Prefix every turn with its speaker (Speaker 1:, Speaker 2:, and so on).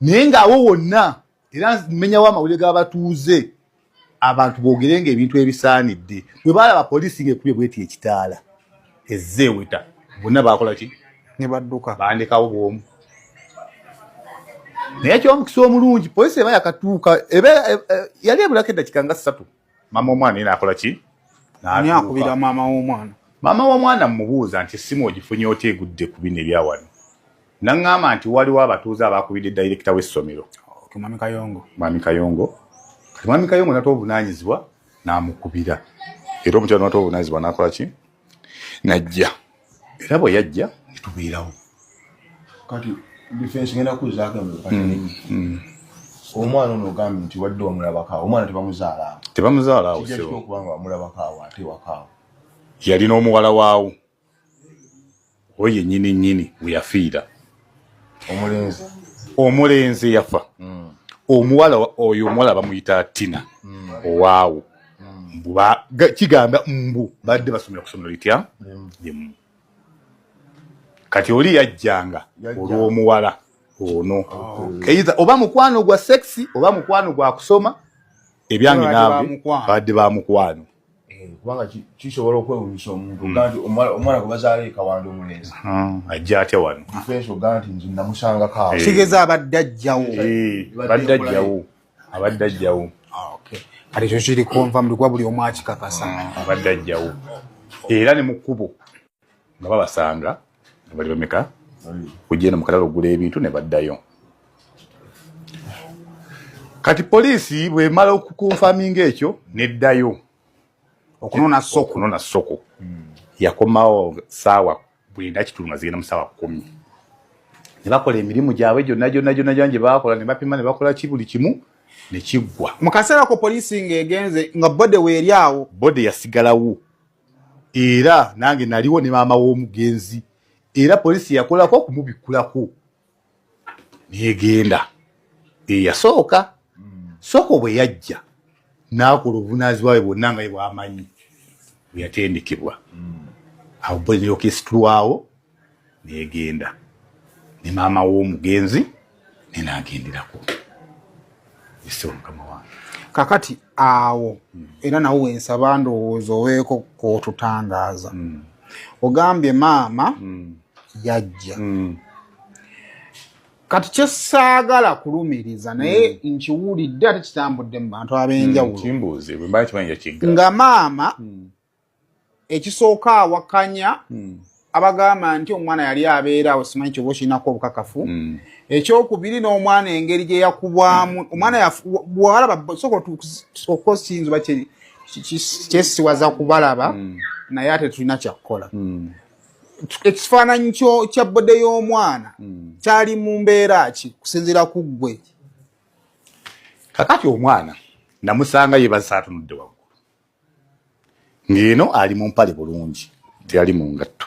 Speaker 1: naye ng'awo wonna era mmenyawo amawulire g'abatuuze abantu boogere nga ebintu ebisaanidde bwe baalaba poliisi ng'ekubye bweti ekitaala ezze eweta bonna baakola ki ne badduka
Speaker 2: bandekawo bwomu
Speaker 1: naye ekyomukisa omulungi poliisi eba yakatuuka e, e, yali ebulako eddakiika nga ssatu maama w'omwana yena akola ki ani akubira
Speaker 2: maama w'omwana maama w'omwana
Speaker 1: mmubuuza nti essimu ogifunye otya egudde ku bino ebyawano naŋŋamba nti waliwo abatuuze abaakubidde dayirekita w'essomero mwami kayongo
Speaker 2: mwami kayongo
Speaker 1: kati mwami kayongo natobuvunanyizibwa namukubira era omukyalo natobuvunanyizibwa nakola ki najja era bwe yajja netubeerawo
Speaker 3: kati difensi ngenda kuzaako mm, mm. omwana ono ogambye nti wadde wamulabakaawo omwana tebamuzaalawo tebamuzaalawo
Speaker 1: okubanga
Speaker 3: wamulabakaawo ate wakaawo yalina
Speaker 1: omuwala waawo oyo yennyini nnyini we yafiira omulenzi omulenzi yafa mm. omuwala oyo omuwala bamuyita tina mm. owaawo mm. kigamba mbu badde basomera ku somero litya limu kati oli yajjanga olw'omuwala ono eiha oh, oba mukwano gwa sexi oba mukwano gwa kusoma ebyange naabwe badde ba mukwano Eh, kubanga
Speaker 3: kisobola okwewunyisa omuntu hmm. ganti omwana gwe bazaala ekawanda omulenzi hmm, ajja atya
Speaker 1: wano ifenso ganti nze
Speaker 3: namusangako awo eh. kigeza abadde ajjawo
Speaker 2: eh, abadde ajjawo
Speaker 1: abadde ajjawo ah, kati
Speaker 2: ekyo kiri konva mulikuba buli omu akikakasa hmm, abadde ajjawo
Speaker 1: era ne mu kkubo nga babasanga nga bali bameka kujenda mu kalalo ogula ebintu ne baddayo kati poliisi bwemala okukonfaminga ekyo neddayo
Speaker 2: okunona soko okunona soko
Speaker 1: hmm. yakomawo saawa bwenda kitundu nga zigenda mu saawa kumi ne bakola emirimu gyabwe gyonna gyonna gyonna gyona gye bakola ne bapima ne bakola ki buli kimu ne kiggwa mu kaseera ko poliisi
Speaker 2: ng'egenze nga bode weeri awo bode yasigalawo
Speaker 1: era nange naliwo ne maama w'omugenzi era poliisi yakolako okumubikkulako negenda eyasooka soko bwe yajja n'akola obuvunaazibwa bwe bwonna nga ye bwamanyi bwe yatendekebwa awo bwe yokesitulwawo negenda ne maama w'omugenzi nenagenderako ese omukama wange kakati
Speaker 2: awo hmm. era nawe wensaba ndowooza oweeko kotutangaaza hmm. ogambye maama hmm. yajja kati kyesaagala kulumiriza naye nkiwulidde ate kitambudde mu bantu ab'enjawulo nga maama ekisooka awakanya hmm. abagamba nti omwana yali abeera awo simanyi kyoba okirinako obukakafu hmm. ekyokubiri n'omwana engeri gye yakubwamu hmm. omwana walaba soka okosinzi ba kyesiwaza kubalaba naye ate tulina kyakukola ekifaananyi kya bode y'omwana kyali mu mbeera ki kusinziira ku ggwe
Speaker 1: kakati omwana namusanga yebazisa atunudde waggulu ng'eno ali mu mpale bulungi teyali mu ngatto.